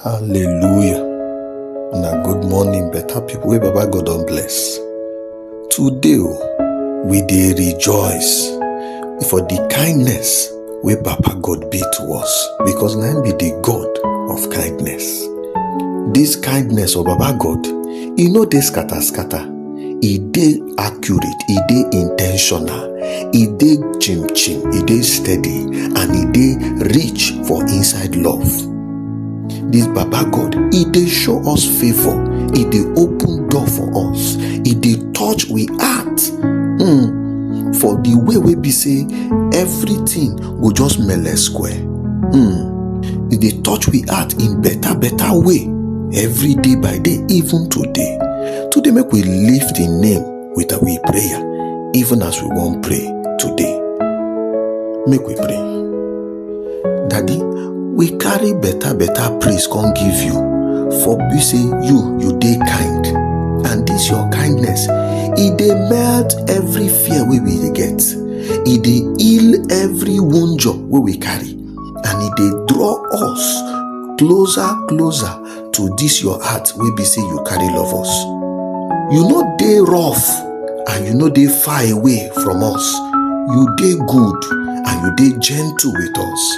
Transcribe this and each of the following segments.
Hallelujah. Una good morning, better people wey Baba God don bless. Today o, we dey rejoice for the kindness wey Papa God be to us because na him be the God of kindness. This kindness of Baba God, e no dey scatter scatter. e dey accurate e dey intentional e dey chim chim e dey steady and e dey rich for inside love this baba god e dey show us favour e dey open door for us e dey touch we heart hmm, for the way wey be say everything go just mele square hmm, e dey touch we heart in better better way every day by day even today Today, make we lift the name with our prayer, even as we won't pray today. Make we pray. Daddy, we carry better, better praise come give you. For we say you, you dey kind. And this your kindness, it dey melt every fear we we dey get. It dey heal every wound we we carry. And it dey draw us closer, closer to dis your heart wey be say you carry love us you no dey rough and you no dey far away from us you dey good and you dey gentle with us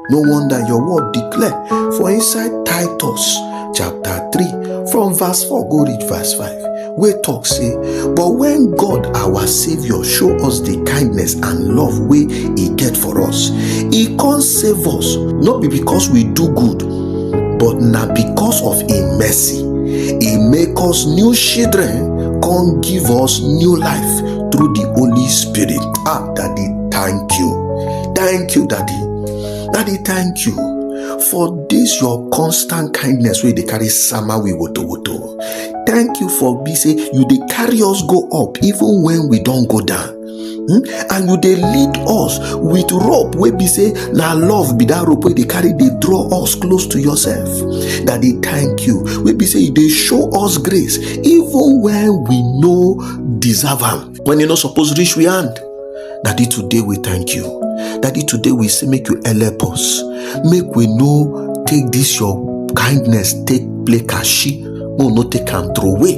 no wonder your word declare for inside titus chapter 3 from verse 4 go reach verse 5 wey talk say but when god our saviour show us the kindness and love wey e get for us e come save us no be because we do good but na because of im mercy e make us new children come give us new life through the holy spirit ah daddy thank you thank you daddy daddy thank you for this your constant kindness wey dey carry sama we wotowoto thank you for be say you dey carry us go up even when we don go down hmm? and you dey lead us with rope wey be say na love be that rope wey dey carry dey draw us close to yourself daddy thank you wey be say you dey show us grace even when we no deserve am when e no suppose reach we hand Daddy, today we thank you. Daddy, today we say make you help us. Make we know take this your kindness, take play kashi, no no take am throw away.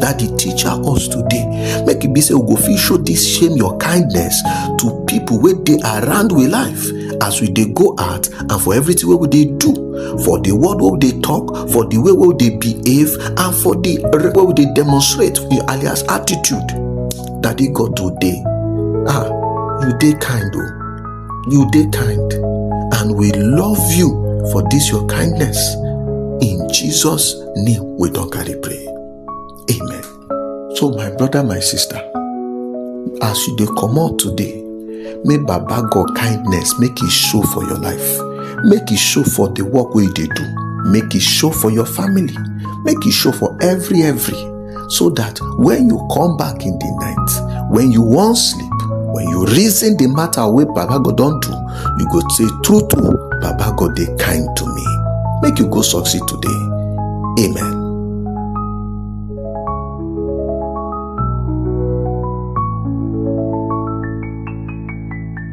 Daddy, teacher us today. Make it be say we go fit show this shame your kindness to people wey dey around we life as we dey go out and for everything wey we dey do, for the word wey we dey talk, for the way wey we dey behave, and for the way we dey demonstrate in alias attitude. Daddy God today. Ah, you dey kind o. You dey kind and we love you for this your kindness. In Jesus name we don carry pray. Amen. So my brother, my sister, as you dey comot today, make Baba God kindness make e show for your life. Make e show for the work wey you dey do. Make e show for your family. Make e show for every every. so that when you come back in the night when you wan sleep when you reason the matter wey baba god don do you go say true true baba god dey kind to me make you go succeed today amen.